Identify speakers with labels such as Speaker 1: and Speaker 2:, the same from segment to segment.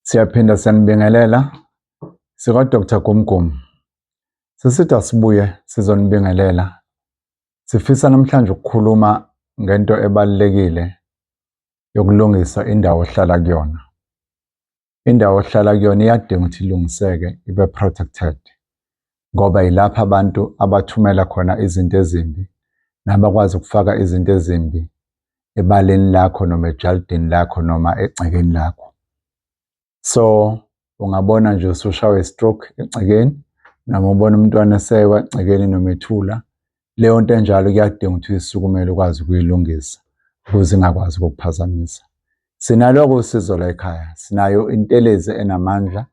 Speaker 1: Siyaphinda siyanibingelela sika-Dr Gumgum. Sisithi asibuye sizonibingelela. Sifisa namhlanje ukukhuluma ngento ebalulekile yokulungisa indawo ohlala kuyona. indawo ohlala kuyona iyadinga ukuthi ilungiseke ibe protected ngoba yilapho abantu abathumela khona izinto ezimbi nabakwazi ukufaka izinto ezimbi ebaleni lakho noma ejalidini lakho noma egcekeni lakho so ungabona nje usushawe stroke egcekeni noma ubona umntwana esewa egcekeni noma ethula leyo nto enjalo kuyadinga ukuthi uyisukumele ukwazi ukuyilungisa ukuze ingakwazi ukukuphazamisa sinaloko usizo la ekhaya sinayo intelezi enamandla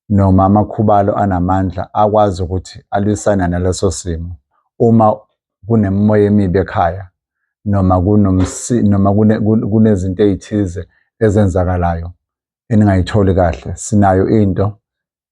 Speaker 1: noma amakhubalo anamandla akwazi ukuthi alwisane naleso simo uma kunemimoya emibi ekhaya noma kunomsi noma kunezinto ezithize ezenzakalayo eningayitholi kahle sinayo into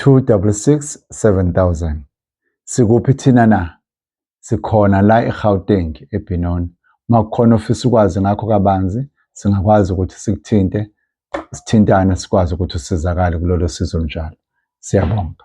Speaker 1: 266 7000 Sikuphi thina na? Sikhona la eGauteng eBenoni. Uma kukhona ofisa ukwazi ngakho kabanzi, singakwazi ukuthi sikuthinte, sithintane sikwazi ukuthi usizakale kulolo sizo njalo. Siyabonga.